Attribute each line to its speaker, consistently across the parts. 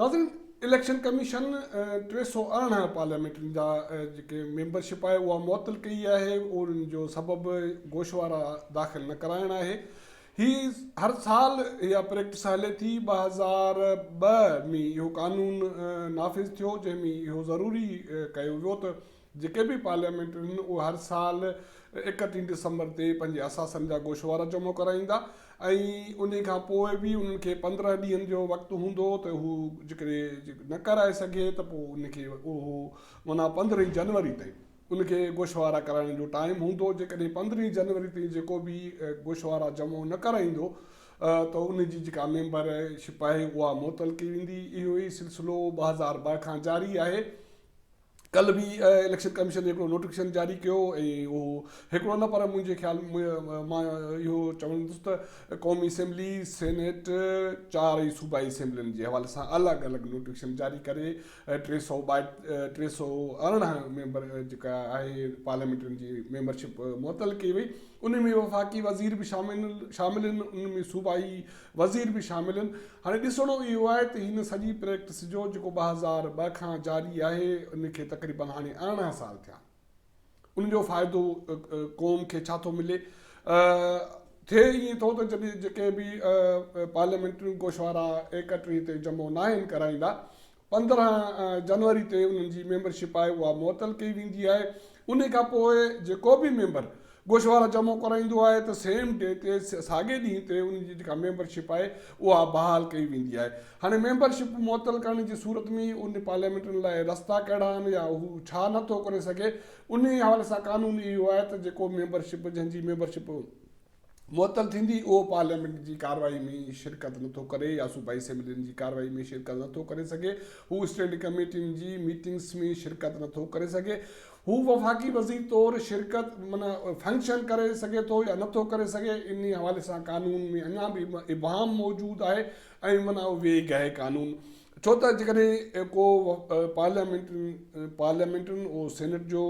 Speaker 1: ناظرين election commission ٽي سؤ ارڙهن پارليامينٽرين جا جيڪي ميمبرشپ آهي اها معطل ڪئي آهي ان جو سبب گوشوارا داخل نه ڪرائڻ آهي هي هر سال اها پريڪٽس هلي ٿي ٻه هزار ٻه ۾ اهو قانون نافذ ٿيو جنهن ۾ اهو ضروري ڪيو ويو ته جيڪي به پارليامينٽرين اهي هر سال اڪٽيهن ڊسمبر تي پنهنجي اثاثن جا گوشوارا جمع ڪرائيندا ۽ انهي کان پوء به انهن کي پندرهن ڏينهن جو وقت هوندو هو ته هو جيڪڏهن نه ڪرائي سگهي ته پوء ان کي اهو معنيٰ پندرهين جنوري تائين ان کي گوشوارا ڪرائڻ جو ٽائيم هوندو هو جيڪڏهن پندرهين جنوري تائين جيڪو به گوشوارا جمع نه ڪرائيندو ته ان جي جيڪا ميمبر شپ آهي اها معطل ڪئي ويندي اهو ئي سلسلو ٻه هزار ٻه کان جاري آهي ڪلهه به اليڪشن ڪميشن هڪڙو نوٽيفڪيشن جاري ڪيو ۽ اهو هڪڙو نه پر منهنجي خيال مان اهو چوندس ته قومي اسيمبلي، سينيٽ چار ۽ صوبائي اسيمبلين جي حوالي سان الڳ الڳ نوٽيفڪيشن جاري ڪري ٽي سؤ ٽي سؤ ارڙهن ميمبر جيڪا آهي پارليامينٽرين جي ميمبرشپ معطل ڪئي وئي ان ۾ وفاقي وزير به شامل شامل آهن ان ۾ صوبائي وزير به شامل هن. هاڻي ڏسڻو اهو آهي ته هن سڄي پريڪٽس جو جيڪو ٻه هزار ٻه کان جاري آهي ان کي تقريبن هاڻي ارڙهن سال ٿيا آهن ان جو فائدو قوم کي ڇا ٿو ملي ٿئي ائين ٿو ته جڏهن جيڪي به پارليامينٽري گوشوارا ايڪٽري تي جمو ناهن ڪرائيندا پندرهن جنوري تي انهن جي ميمبرشپ آهي اها معطل ڪئي ويندي آهي انهي کان پوء جيڪو به ميمبر گوشوارا جمع ڪرائيندو آهي ته سيم ڊي تي ساڳئي ڏينهن تي انهن جي جيڪا ميمبرشپ آهي اها بحال ڪئي ويندي آهي هاڻي ميمبرشپ معطل ڪرڻ جي صورت ۾ انهي پارليامينٽن لاء رستا ڪهڙا آهن يا هو ڇا نه ٿو ڪري سگهي انهي حوالي سان قانون اهو آهي ته جيڪو ميمبرشپ جنهن جي ميمبرشپ معطل ٿيندي اهو پارليامينٽ جي ڪارروائي ۾ شرڪت نٿو ڪري يا صوبائي اسيمبلين جي ڪارروائي ۾ شرڪت نٿو ڪري سگهي هو اسٽينڊنگ ڪميٽين جي ميٽنگس ۾ شرڪت نٿو ڪري سگهي هو وفاقي وزير طور شرڪت من فنڪشن ڪري سگهي ٿو يا نٿو ڪري سگهي ان حوالي سان قانون ۾ اڃا به ابهام موجود آهي ۽ من ويگ آهي قانون ڇو ته جيڪڏهن ڪو پارليامينٽرين، سينيٽ جو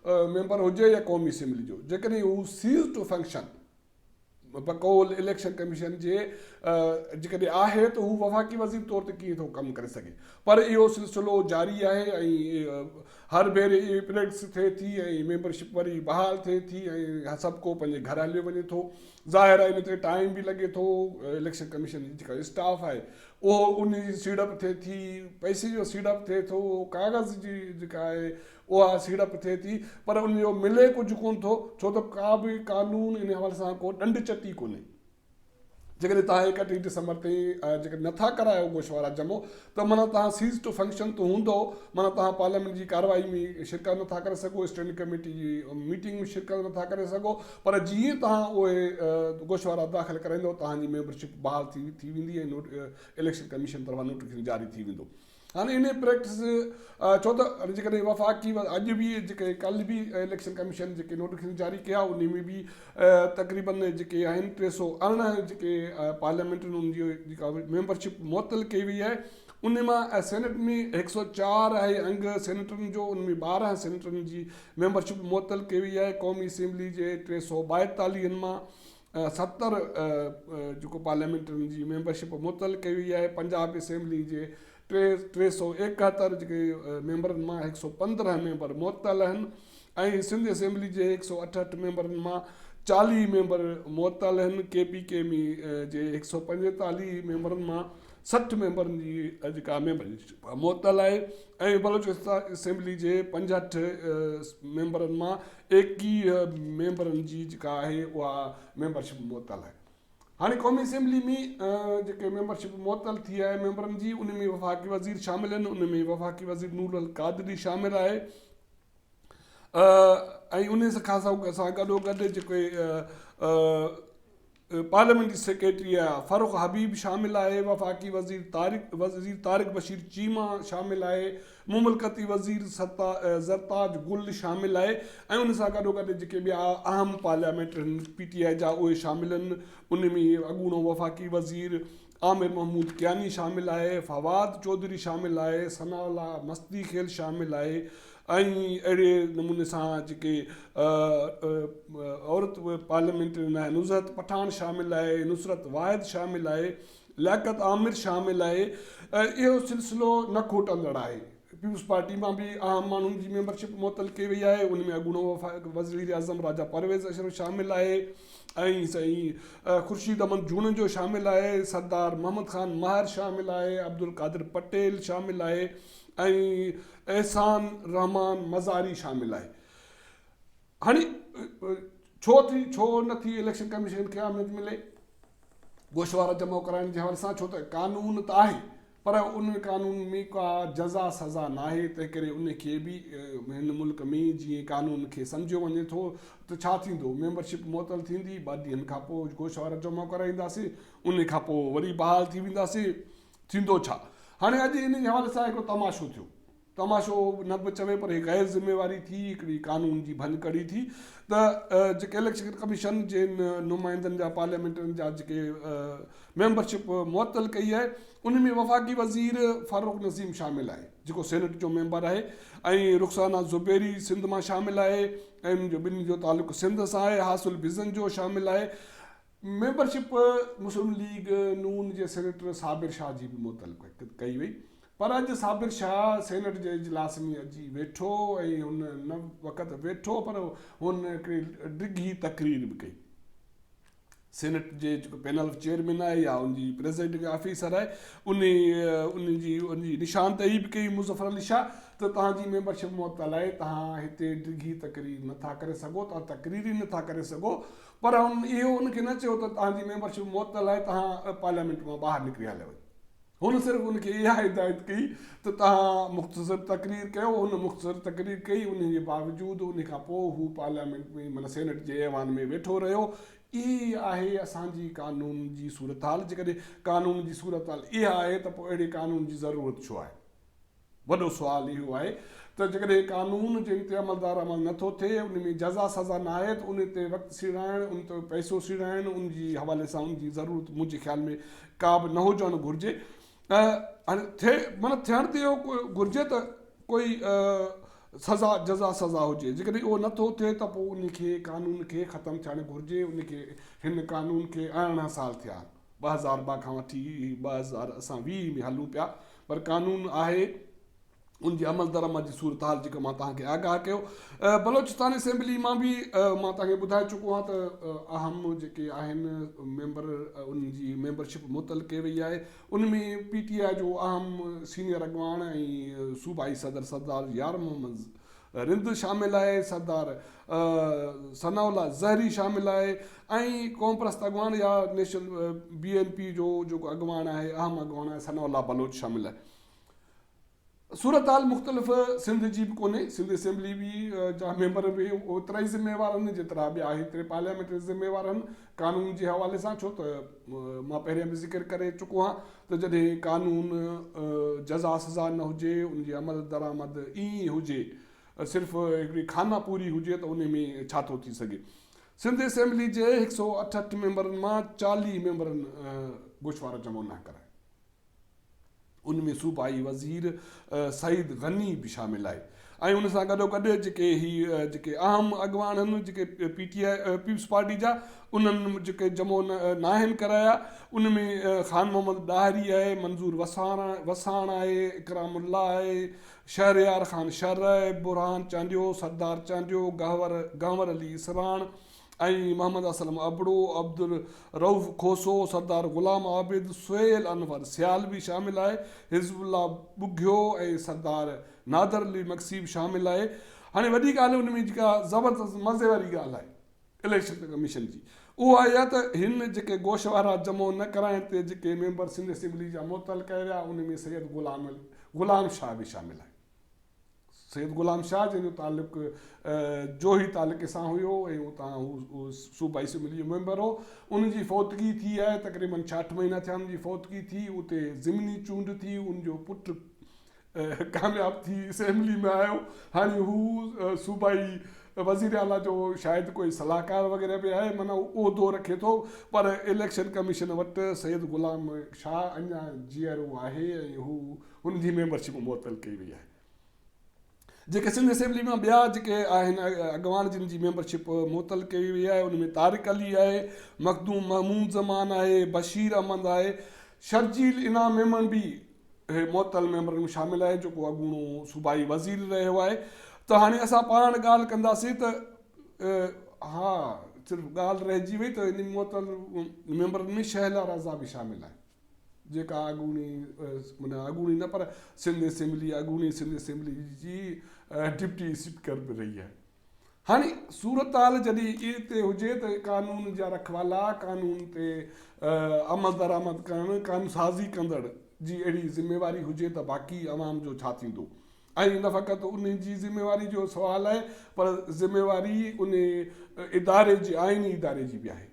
Speaker 1: ميمبر هجي يا قومي اسيمبلي جو، جيڪڏهن هو سيز ٽو فنڪشن بقول اليڪشن ڪميشن جي جيڪڏهن آهي ته هو وفاقي وزير طور تي ڪيئن ٿو ڪم ڪري سگهي. پر اهو سلسلو جاري آهي ۽ هر ڀيري اهي پريڊڪس ٿئي ٿي ۽ ميمبرشپ وري بحال ٿئي ٿي ۽ سڀڪو پنهنجي گهر هليو وڃي ٿو. ظاهر آهي ان تي ٽائيم به لڳي ٿو، اليڪشن ڪميشن جي جيڪا اسٽاف آهي اهو ان جي سيڙپ ٿئي ٿي، پئسي جو سيڙپ ٿئي ٿو، ڪاغذ جي جيڪا آهي اها سيڙپ ٿئي ٿي پر ان جو ملي ڪجهه ڪونه ٿو ڇو ته ڪا به قانون ان حوالي سان ڪو ڏنڊ چٽي ڪونهي. جيڪڏهن توهان ايڪٽيهه ڊسمبر تائين جيڪڏهن نٿا ڪرايو گوشوارا جمع ته معنيٰ توهان سيز ٽو فنڪشن تي هوندؤ، معنيٰ توهان پارليامينٽ جي ڪارروائي ۾ شرڪت نٿا ڪري سگهو، اسٽينڊنگ ڪميٽي جي ميٽنگ ۾ شرڪت نٿا ڪري سگهو، پر جي ئي توهان اهي گوشوارا داخل ڪرائيندؤ، توهان جي ميمبرشپ بحال ٿي ٿي ويندي ۽ اليڪشن ڪميشن طرفان نوٽيفڪيشن جاري ٿي ويندو. هاڻي انهيء پريڪٽس ڇو ته جيڪڏهن وفاقي اڄ به جيڪي ڪلهه به اليڪشن ڪميشن جيڪي نوٽيفڪيشن جاري ڪيا انهي ۾ به تقريبن جيڪي آهن ٽي سؤ ارڙهن جيڪي پارليامينٽ ان جي جيڪا ميمبر شپ معطل ڪئي وئي آهي ان مان سينيٽ ۾ هڪ سؤ چار آهي انگ سينيٽرن جو ان ۾ ٻارهن سينيٽرن جي ميمبر شپ معطل ڪئي وئي آهي قومي اسيمبلي جي ٽي سؤ ٻائيتاليهن مان ستر جيڪو پارليامينٽ ان جي ميمبر شپ معطل ڪئي وئي آهي پنجاب اسيمبلي جي ٽي ٽي سؤ ايڪهتر جيڪي ميمبرن مان هڪ سؤ پندرهن ميمبر معطل آهن ۽ سنڌ اسيمبلي جي هڪ سؤ اٺهٺ ميمبرن مان چاليهه ميمبر معطل آهن ڪي پي ڪي ايم جي هڪ سؤ پنجيتاليهه ميمبرن مان سٺ ميمبرن جي جيڪا ميمبرشپ معطل آهي ۽ بلوچستان اسيمبلي جي پنجهٺ ميمبرن مان ايڪيهه ميمبرن جي جيڪا آهي اها ميمبرشپ معطل آهي هاڻي قومي اسيمبلي ۾ جيڪي ميمبرشپ معطل ٿي آهي ميمبرن جي ان ۾ وفاقي وزير شامل آهن ان ۾ وفاقي وزير نور القادري شامل آهي ۽ ان سکا سان گڏو گڏ جيڪي پارليامينٽري سيڪريٽري آهي فرخ حبيب شامل آهي وفاقي وزير طارق وزير طارق بشير چيما شامل آهي مملڪتي وزير زرتاج گل شامل آهي ۽ ان سان گڏوگڏ جيڪي ٻيا اهم پارليامينٽرين پي ٽي آء جا اهي شامل آهن ان ۾ اڳوڻو وفاقي وزير عامر محمود ڪياني شامل آهي فواد چوڌري شامل آهي ثناء الله مستي خيل شامل آهي ۽ اهڙي نموني سان جيڪي عورت پارليامينٽرين آهي نظهت پٺاڻ شامل آهي نصرت واحد شامل آهي لياقت عامر شامل لاء اهو سلسلو نه کوٽندڙ آهي، پيپلز پارٽي مان به اهم ماڻهن جي ميمبرشپ معطل ڪئي وئي آهي، ان ۾ اڳوڻو وفاقي وزيراعظم راجا پرويز اشرف شامل آهي ۽ خورشيد احمد جوڻيجو شامل آهي، سردار محمد خان مهر شامل آهي، عبدالقادر پٽيل شامل آهي ۽ احسان الرحمان مزاري شامل آهي. هاڻي ڇو ٿي ڇو نه ٿي اليڪشن ڪميشن کي اهميت ملي گوشوارا جمع ڪرائڻ جي حوالي سان ڇو ته قانون ته آهي پر ان قانون ۾ ڪا جزا سزا ناهي تنهن ڪري ان کي به هن ملڪ ۾ جيئن قانون کي سمجهيو وڃي ٿو ته ڇا ٿيندو ميمبرشپ معطل ٿيندي ٻه ڏينهن کان پوء گوشوارا جمع ڪرائينداسين ان کان پوء وري بحال ٿي وينداسين ٿيندو ڇا هاڻي اڄ ان جي حوالي سان هڪڙو تماشو ٿيو تماشو نه به چوي پر هي غير ذميواري ٿي هڪڙي قانون جي ڀڃڪڙي ٿي ته جيڪي اليڪشن ڪميشن جي نمائندن جا پارليامينٽرين جا جيڪي ميمبر شپ معطل ڪئي آهي ان ۾ وفاقي وزير فاروق نسيم شامل آهي جيڪو سينيٽ جو ميمبر آهي ۽ رخسانه زبيري سنڌ مان شامل آهي ۽ جو ٻنهي جو تعلق سنڌ سان آهي حاصل بزن جو شامل آهي ميمبر شپ مسلم ليگ نون جي سينيٽر صابر شاهه جي به معطل ڪئي وئي پر اڄ صابر شاهه سينيٽ جي اجلاس ۾ اچي ويٺو ۽ هن نه فقط ويٺو پر هن هڪڙي ڊگهي تقرير به ڪئي. سينيٽ جي جيڪو پينل آف چيئرمين آهي يا ان جي پريزائيڊنگ آفيسر آهي ان ان جي ان جي نشاندهي به ڪئي مظفر علي شاهه ته توهان جي ميمبرشپ معطل آهي توهان هتي ڊگهي تقرير نه ٿا ڪري سگهو توهان تقرير ئي نه ٿا ڪري سگهو پر هن اهو ان کي نه چيو ته توهان جي ميمبرشپ معطل آهي توهان پارليامينٽ مان ٻاهر نڪري هليا وڃو هن صرف ان کي اها هدايت ڪئي ته توهان مختصر تقرير ڪيو. هن مختصر تقرير ڪئي، انهي جي باوجود انهي کان پوء هو پارليامينٽ ۾ معنيٰ سينيٽ جي ايوان ۾ ويٺو رهيو. اهي ئي آهي اسان جي قانون جي صورتحال. جيڪڏهن قانون جي صورتحال اها آهي ته پوء اهڙي قانون جي ضرورت ڇو آهي؟ وڏو سوال اهو آهي ته جيڪڏهن قانون جنهن تي عملدار عمل نه ٿو ٿئي، ان ۾ جزا سزا نه آهي ته ان تي وقت سيڙائڻ، ان تي پئسو سيڙائڻ، ان جي حوالي سان ان جي ضرورت منهنجي خيال ۾ ڪا به نه هجڻ گهرجي. هاڻي ٿئي معنيٰ ٿيڻ ته اهو گهرجي ته ڪوئي سزا جزا سزا هجي. جيڪڏهن اهو نه ٿو ٿئي ته پوء ان کي قانون کي ختم ٿيڻ گهرجي. ان کي هن قانون کي ارڙهن سال ٿيا آهن. ٻه هزار ٻه کان وٺي ٻه هزار اسان ويهه ۾ هلون پيا پر قانون آهي ان جي عمل درآمد جي صورتحال جيڪا مان توهان کي آگاهه ڪيو بلوچستان اسيمبلي مان به مان توهان کي ٻڌائي چڪو آهيان ته اهم جيڪي آهن ميمبر ان جي ميمبرشپ متعلق ڪئي وئي آهي ان ۾ پي ٽي آء جو اهم سينيئر اڳواڻ ۽ صوبائي صدر سردار يار محمد رند شامل آهي، سردار ثناء الله زهري شامل آهي ۽ قومپرست اڳواڻ يا نيشنل بي اين پي جو جيڪو اڳواڻ آهي اهم اڳواڻ آهي ثناء الله بلوچ شامل آهي. صورتحال مختلف سنڌ جي به ڪونهي، سنڌ اسيمبلي جا ميمبر به اوترائي ذميوار آهن جيترا ٻيا هيتري پارليامينٽري ذميوار آهن، قانون جي حوالي سان ڇو ته مان پهرين به ذڪر ڪري چڪو هان ته جڏهن قانون جزا سزا نه هجي ان جي عمل درآمد ايئن ئي هجي صرف هڪڙي خانه پوري هجي ته ان ۾ ڇا ٿو ٿي سگهي سنڌ اسيمبلي جي هڪ سؤ اٺهٺ ميمبرن مان چاليهه ميمبرن گوشوارا جمع نه ڪرايا ان ۾ صوبائي وزير سعيد غني به شامل آهي ۽ ان سان گڏوگڏ جيڪي هي جيڪي اهم اڳواڻ آهن جيڪي P T I people's party جا انهن جيڪي جمو ناهن ڪرايا ان ۾ خان محمد ڏاهري آهي منظور وساڻ وساڻ آهي اڪرام الله آهي شهريار خان شرح برهان چانڊيو سردار چانڊيو گهور گهنور علي اسراڻ ۽ محمد اسلم ابڙو، عبدالرئوف کوسو، سردار غلام عابد، سهيل انور سيالوي شامل آهي، حزب الله ٻگهيو ۽ سردار نادر علي مگسي به شامل آهي. هاڻي وڏي ڳالهه ان ۾ جيڪا زبردست مزي واري ڳالهه آهي اليڪشن ڪميشن جي اهو آهي اها ته هن جيڪي گوشوارا جمع نه ڪرائڻ تي جيڪي ميمبر سنڌ اسيمبلي جا معطل ڪيا ويا ان ۾ سيد غلام شاهه به شامل آهي. سيد غلام شاهه جنهن جو تعلق جوهي تعلقي سان هيو ۽ اتان هو صوبائي اسيمبلي جو ميمبر هو ان جي فوتگي ٿي آهي تقريبن ڇاٺ مهينا ٿيا ان جي فوتگي ٿي اتي ضمني چونڊ ٿي ان جو پٽ ڪامياب ٿي اسيمبلي ۾ آيو هاڻي هو صوبائي وزير اعليٰ جو شايد ڪوئي صلاحڪار وغيره به آهي مانا عهدو رکي ٿو پر اليڪشن ڪميشن وٽ سيد غلام شاهه اڃا جيئرو آهي ۽ هو ان جي ميمبر شپ معطل ڪئي وئي آهي جيڪي سنڌ اسيمبلي مان ٻيا جيڪي آهن اڳواڻ جن جي ميمبر شپ معطل ڪئي وئي آهي ان ۾ طارق علي آهي مخدوم محمود زمان آهي بشير احمد آهي شرجيل انعام ميمڻ به هي معطل ميمبرن ۾ شامل آهي جيڪو اڳوڻو صوبائي وزير رهيو آهي ته هاڻي اسان پاڻ ڳالهه ڪنداسين ته ها صرف ڳالهه رهجي وئي ته ان معطل ميمبرن ۾ شهلا رضا به شامل آهي جيڪا اڳوڻي معنيٰ اڳوڻي نه پر سنڌ اسيمبلي اڳوڻي سنڌ اسيمبلي جي ڊپٽي اسپيڪر به رهي آهي هاڻي صورتحال جڏهن ايئن تي هجي ته قانون جا رکوالا قانون تي عمل درآمد ڪرڻ قانون سازي ڪندڙ جي اهڙي ذميواري هجي ته باقي عوام جو ڇا ٿيندو ۽ نه فقط ان جي ذميواري جو سوال آهي پر ذميواري ان اداري جي آئيني اداري جي به آهي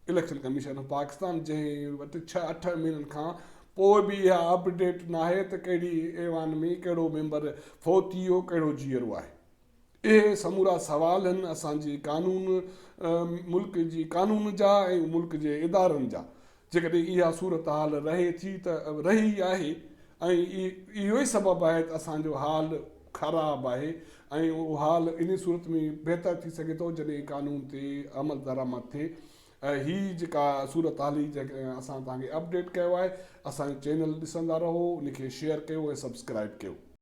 Speaker 1: اليڪشن ڪميشن پاڪستان جنهن وٽ ڇهه اٺ مهينن کان پوء به اها اپ ڊيٽ ناهي ته ڪهڙي ايوان ۾ ڪهڙو ميمبر فوت ٿي ويو ڪهڙو جيئرو آهي اهي سمورا سوال هن اسان جي قانون ملڪ جي قانون جا ۽ ملڪ جي ادارن جا جيڪڏهن اها صورتحال رهي ٿي ته رهي ئي آهي ۽ اهو ئي سبب آهي ته اسان جو حال خراب آهي ۽ اهو حال انهي صورت ۾ بهتر ٿي سگهي ٿو جڏهن قانون تي عملدرآمد ٿئي. هي جيڪا صورتحال هي جيڪا اسان توهان کي اپڊيٽ ڪيو آهي. اسان جو چينل ڏسندا رهو، ان کي شيئر ڪيو ۽ سبسڪرائيب ڪيو.